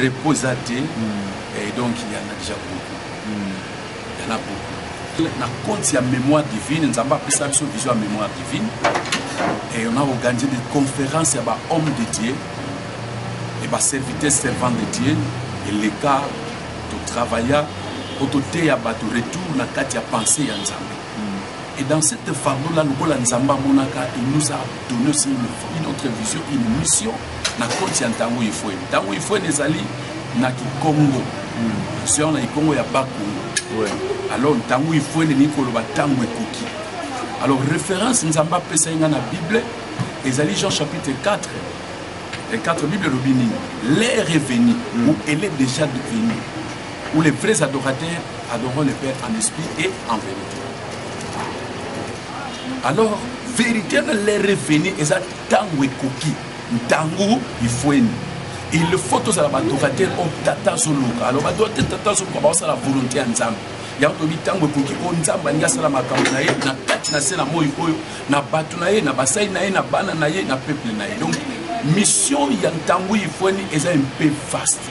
repos eza te et donc il y en a déjà beaucoup il y en a beaucoup na compte ya mémoire divine nzambe apesa biso vision ya mémoire divine et on a organisé des conférences ya ba homme de dieu et ba serviteur servant de dieu eleka totravailla mpo toteya bato retour na kati ya pensée ya nzambe Et dans cette fardeau-là, le Bola Nzamba Monaka, il nous a donné aussi une, une autre vision, une mission. Na konti ya ntango ifwe ntango ifwe ezali na kikongo sio na kikongo ya bakongo alors ntango ifwe elingi koloba ntango ekoki alors référence nzambe apesa ye ngai na bible ezali jean chapitre 4 et 4 bible elobi nini l'air est venu ou elle est déjà devenue Où les vrais adorateurs adoreront le Père en esprit et en vérité. Alors, vérité na les revenus eza ntango ekoki ntango ifweni il faut tozala badorateur oyo tata azoluka alors badorateur tata azoluka baosala volonté ya nzambe yango toyebi ntango ekoki oyo nzambe alingi asala makambo na ye na kati na se na moi oyo na bato na ye na basali na ye na bana na ye na peuple na ye donc mission ya ntango ifweni eza mpe vaste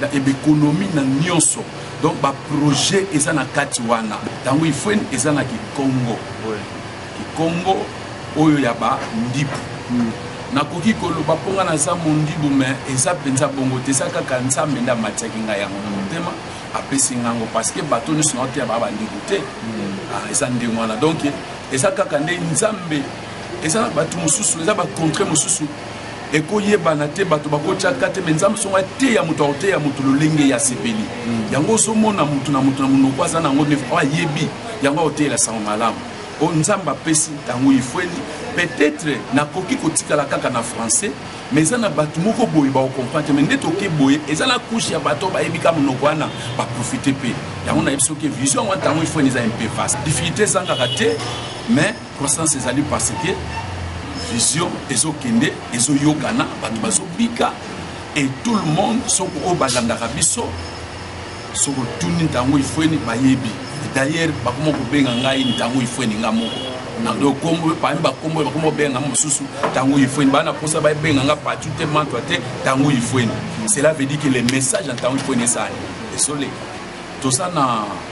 na economie na nyonso donc ba projet eza na kati wana tango ifuen eza na kikongo kikongo oyo ya ba ndibu mm. nakoki koloba mpo ngai naza mondibu me eza mpenza bongo te eza kaka nzambe nde amatiaki ngai yango na motema apesi ngai yango parce que bato nyonso nao te ya baa bandibu te mm. ah, eza ndenge wana donc eza kaka nde nzambe eza na bato mosusu eza bacontre mosusu eko yebana te bato bako tia kate me nzambe songo ateya moto akoteya moto lolenge ya sepeli hmm. yango ozomona moto na moto na monoko aza nango me o ayebi yango akoteyela sango malamu o nzambe apesi ntango ifueli peut-être nakoki kotikala kaka na français me eza na bato moko boye bakokomprendre me nde toke boye eza na kushe ya bato bayebi ka monoko wana baprofite mpe yango nayebi soki vision yango ntango ifueli eza mpe vaste difficulté ezangaka te mais Croissance ezali parce que vision ezokende ezoyokana bato bazobika et tout le monde soko oyo balandaka biso soko tuni ntango ifweni bayebi d'ailleurs bakoma kobenga ngai ntango ifweni nga moko nakombo parmi bakombo bakoma kobenga mosusu ntango ifweni baa na mposa babenga nga patu te mantwa te ntango ifweni cela veut dire que le message ya ntango ifweni esali esoleka toza na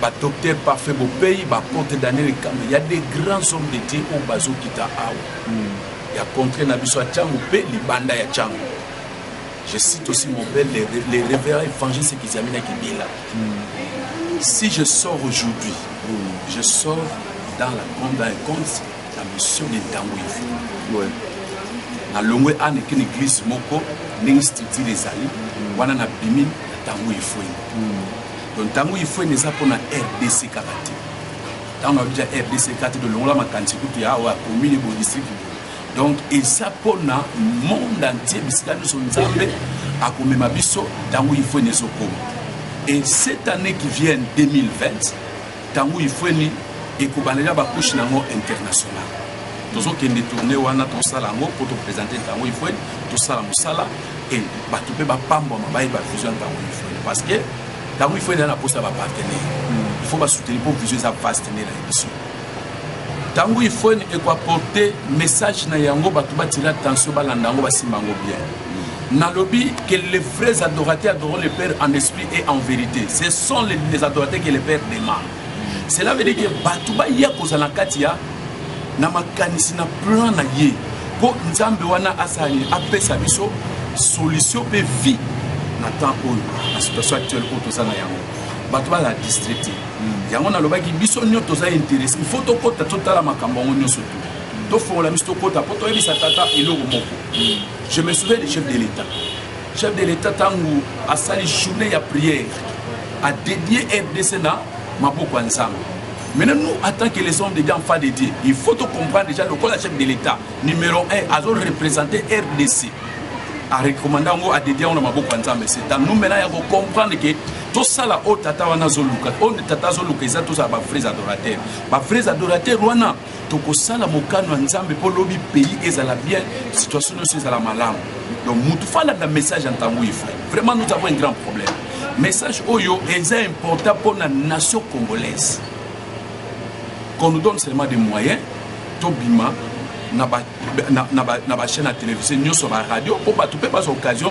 ba docteur parfait bopeyi ba porte daniel kambe ya des grands hommes de dieu oyo bazokita awa hmm. ya contre na biso ya cango mpe libanda ya cango je cite aussi mon père les, les révérend évangile sekizami na kibila hmm. si je sors aujourd'hui hmm. je sors dans la compte dans un compte la mission de ntango ivu ouais. nalongwe ana ekini église moko ndenge structure ezali wana nabimi na ntango efweni donc ntango ifrene eza mpo na rdc kaka te ntango na biso ya rdc kaka te tolongola makanisi kutu ya awa commune bo district donc eza mpo na monde entier bisika nyonso nzambe akomema biso ntango ifrene ezokoma et cette année qui vienne 2020 Tangu ifueni ekobandela ba couche na ngo international tozokende tourne wana tosala yango mpo topresente ntango ifue tosala mosala e bato mpe bapambwama bayeba vision ntango ifue parce que ntango ifue ezali na mposa ya bapartenaire il faut basoutenir mpo vision eza vaste nde na biso ntango ifue ekoaporte message na yango bato batila tension balanda yango basimba yango bien Nalobi que les vrais adorateurs adorent le Père en esprit et en vérité. Ce sont les, les adorateurs que le Père demande. Cela veut dire que bato baya kozala na kati ya na makanisi na plan na ye mpo nzambe wana asala nini apesa biso solution mpe vie na temps oyo na situation actuelle oyo toza na yango bato bazala distrete hmm. yango nalobaki biso nyonso toza interesse il faut tokota totala makambo yango nyonso tu tofongola biso tokota mpo toyebisa tata eloko moko hmm. Je me souviens du chef de l'État. Chef de l'État tangu asali journée ya prière a dédié RDC na maboko ya Nzambe. Maintenant nous en tant que les hommes de Dieu en face de Dieu, il faut to comprendre déjà le la chef de l'État numéro 1 azo représenter RDC. A recommander ngo a dédié na maboko ya Nzambe. C'est à nous maintenant ya ko comprendre que tosala oyo tata wana azoluka oyo tata azoluka eza tozala bavrais adorateur bavrais adorateur wana tokosala mokano ya nzambe mpo lobi pays ezala bien situation nyonso ezala malamu donc mutu fo alanda message ya ntango oyo fai vraiment nous avons un grand problème message oyo eza important mpo na nation congolaise qu'on nous donne seulement des moyens tobima na bachaîne ya télévision nyonso baradio mpo bato mpe baza occasion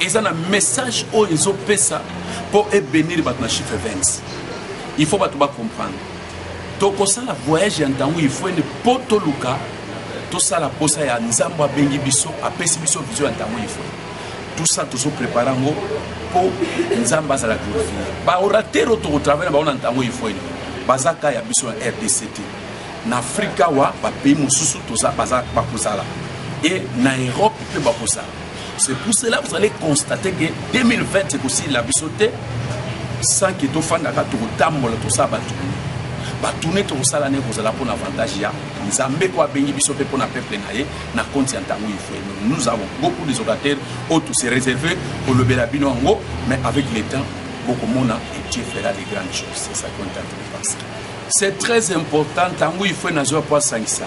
eza na message oyo ezopesa mpo ebenir bato na chiffre 20 il faut bato bacomprendre tokosala voyage ya ntango ifuene mpo toluka tosala mposa ya nzambe abengi biso apesi biso vision ya ntango ifuene tout ça tozoprépare yango mpo nzambe azala glorifie baoratere oyo tokotravaille na bango na ntango ifuene baza ka ya biso na rdc te na afrika wa bapays mosusu bakozala e na europe mpe bakozala C'est pour cela vous allez constater que 2020 ekosila biso te sans que tofandaka tokotambola tosala batuni batuni tokosala nde kozala mpo na avantage ya nzambe oyo abengi biso mpe mpo na peuple na ye na konti ya ntango ifue nous avons beaucoup des ocateurs oyo tose réserve kolobela bino yango mais avec le temps bokomona et dieu fera de grandes choses c'est ça qu'on est en train de penser c'est très important ntango ifue nazwa mpo asangisa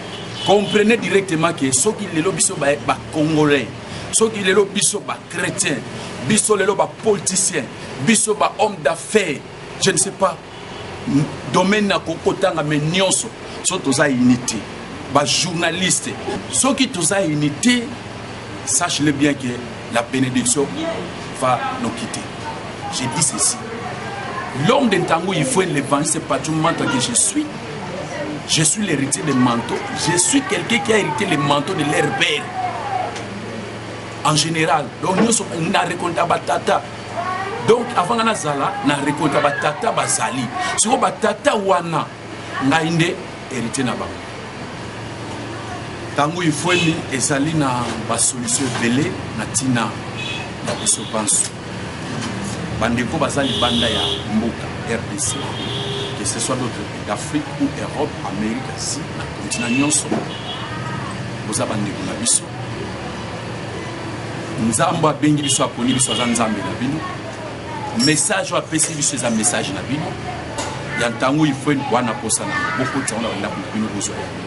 comprenez directement que soki lelo biso ba, ba congolais soki lelo biso ba chrétien biso lelo ba politicien biso ba homme d'affaires je ne sais pas domaine na kokotanga me nyonso so toza unité bajournaliste soki toza unité sache le bien que la bénédiction va nous quitter j'ai dit ceci l'homme de ntango il faut l'évangile c'est pas tout le monde que je suis Je suis l'héritier de manteau. Je suis quelqu'un qui a hérité le manteau de leur père. En général, donc nous sommes na récolte à batata. Donc avant na zala, na récolte à batata bazali. Sur batata wana, na inde héritier na bango. Tango il faut ni ezali na ba solution belé na tina na biso banso. bandeko baza libanda ya mboka rdc que ce soit d'autres pays d'afrique ou europe amérique asie na continent nyonso boza bandeko na biso nzambe abengi biso aponi biso aza nzambe na bino message oyo apesi biso eza message na bino ya ntango ifue wana posa na bokotisa wana bandako na bino bozwa yango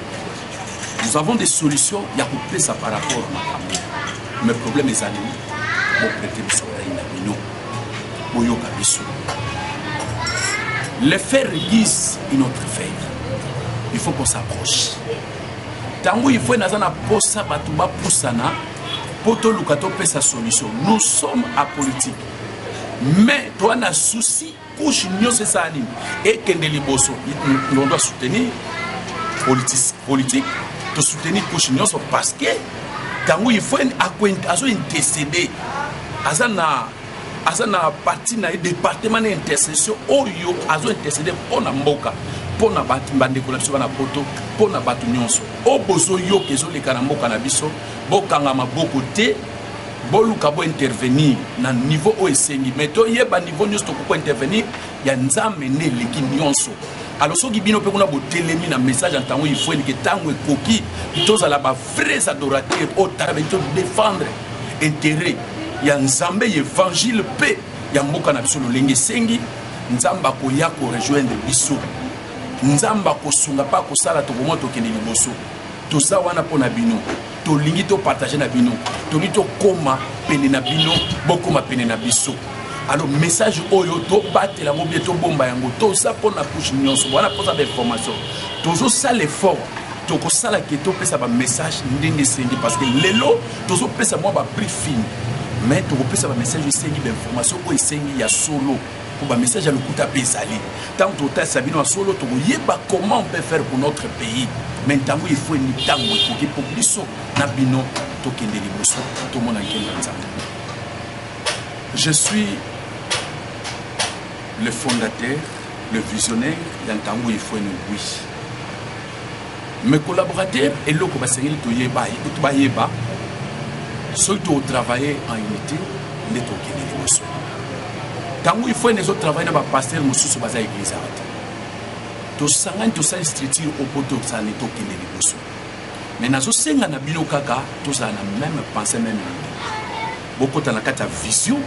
nous avons des solutions ya kopesa par rapport na makambo mais problème ezali boprete biso rai na bino boyoka biso le fer lise une autre fer il faut qu'on s'approche ntango ifo naza na mposa bato bapusana mpo toluka topesa solution nous sommes apolitique mais toa na souci couche nyonso esala nini ekende liboso ndondo asoutenir politique tosoutenir couche nyonso parce que ntango ifo azo intercede aza na aza na parti na ye département na intercession oyo azo intercede mpo na mboka mpo na bato bandeko na biso bana poto mpo na bato nyonso oyo bozoyoka ezoleka na mboka na biso bokanga maboko te boluka bo intervenir na niveau oyo esengi mais toyeba niveau nyonso tokoki ko intervenir ya nzambe nde eleki nyonso alors soki bino mpe kuna botelemi na message ya ntango ifoeli ke ntango ekoki tozala ba vrais adorateur oyo talabeli todefendre intérêt ya nzambe ya evangile mpe ya mboka na biso lolenge esengi nzambe akoya korejoindre biso nzambe akosunga mpe akosala tokomona tokende liboso toza wana mpo na bino tolingi to partage na bino tolingi tokoma pene na bino bokoma pene na biso alors message oyo tobatela yango bie tobomba yango toza mpona couche nyonso wana mpoza bainformation tozosala effort tokosala ke topesa bamessage ndenge esengi parce que lelo tozopesa mwa baprix fine mais tokopesa bamessage esengi bainformation oyo esengi ya solo mpo bamessage ya lokuta mpe ezali ntango tokotalisa bino ya solo tokoyeba comment on peut faire pour notre pays me ntango efo mitango ekoki mpo biso na bino tokende liboso tomona nkembo ya nzambe je suis le fondateur le visionnaire ya ntango efo eni oui mais collaborateur eloko basengeli toyeba ye kutu bayeba soki totravaille en unité nde tokende liboso ntango ifrene ezotravaille na bapaster mosusu baza eglise awa te tosangani tosali structure opo tosani tokende liboso mais nazosenga na bino kaka tozala na meme pense meme idee bokota na kati ya vision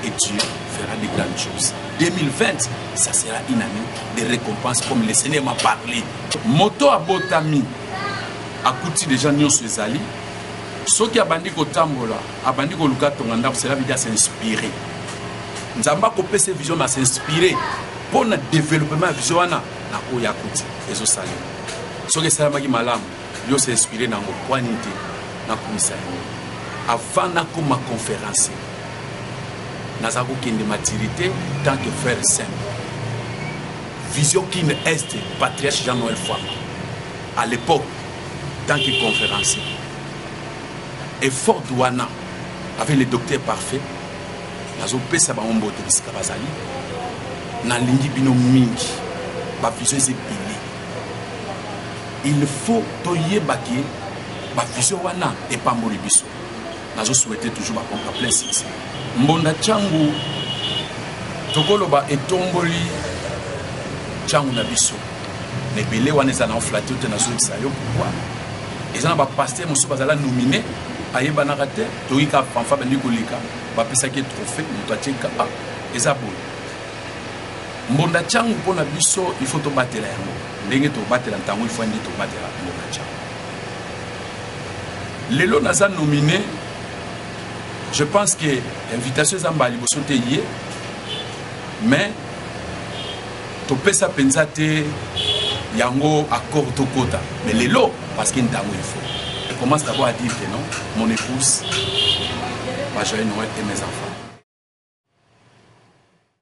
et Dieu fera de grandes choses. 2020, ça sera une année de récompense comme le Seigneur m'a parlé. Moto à Botami, à Kouti déjà Nyonso Ezali, ceux qui abandi kotambola, abandi koluka tonga ndako, cela veut dire s'inspirer. Nzamba kopé ses visions à s'inspirer pour le développement vision wana na oya Kouti. Ezo salir. Soki esalamaki malamu yo se inspire na mokwani te nakumisa yango avant nakoma conférence naza kokende matiri te tant que frère simple vision kin est patriarche jean noël fama à l'époque tant que conférencier et fort wana avec le docteur parfait nazopesa bango mbote bisika bazali nalingi bino mingi bavision eza ebele Il faut toyeba ke ba vision wana epamboli biso. Nazo souhaiter toujours ba pompa blessings. Mbonda changu tokoloba etomboli changu na biso. Na ebele wana eza na oflate te nazongisa yo pourquoi? Eza na ba pasteur mosusu bazala nomine ayebanaka te toyika fanfa bandi koleka bapesaki trophée moto atie kapa eza boye mbonda changu mpo na biso il faut tobatela yango ndenge tobatela ntango ifandi tobatela mbonda changu lelo naza nomine je pense que invitation eza mbala liboso te ye mais topesa mpenza te yango accord tokota mais lelo parce que ntango il faut je commence d'abord à dire que non mon épouse va joyeux noël et mes enfants